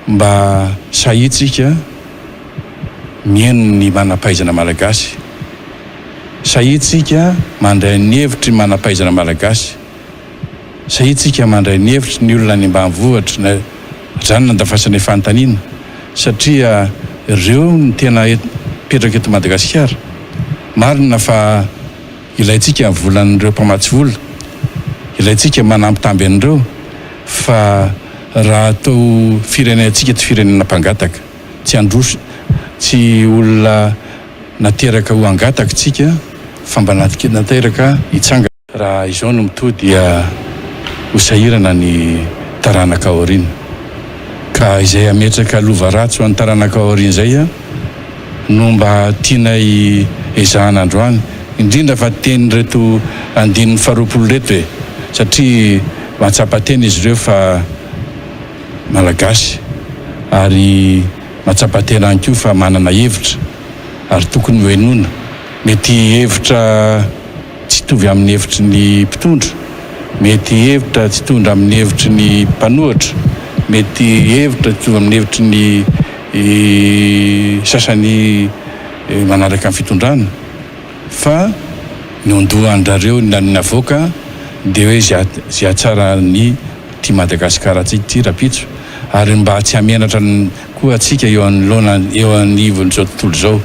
Mba sahia tsika mihaino ny manampahaizana malagasy. Sahia tsika mandray ny hevitry ny manampahaizana malagasy. Sahia tsika mandray ny hevitry ny olona any ambanivohitry ny zany nandafasana ny fanontaniana satria reo no tena mipetraka eto Madagasikara. Marina fa. Ilaintsika ny volan'ireo mpamatsy vola, ilaintsika manambitamby an'ireo fa raha atao firenentsika tsy firenena mpangataka, tsy handroso, tsy olona nateraka ho hangataka isika fa mba nateraka hitsangana. Raha izao no mitohy dia ho sahirana ny taranaka aoriana. Ka izay hametraka lova ratsy ho an'ny taranaka aoriana izay, no mba tianay ezahana androany, indrindra fa tenin'ireto andininy faharoapolo ireto e, satria mahatsapa tena izy ireo fa Malagasy ary mahatsapa tena ihany koa fa manana hevitra ary tokony hohenoina. Mety hevitra tsy hitovy amin'ny hevitry ny mpitondra, mety hevitra tsy hitondra amin'ny hevitry ny mpanohitra, mety hevitra tsy hitovy amin'ny hevitry ny. ny sasany manaraka ny fitondrana fa ny ondohan-drareo ny lalina avoaka dia hoe izay hatsara ny ity Madagascar antsika ity rapitso ary mba tsy hamenatra koa antsika eo anoloana eo anivon'izao tontolo izao.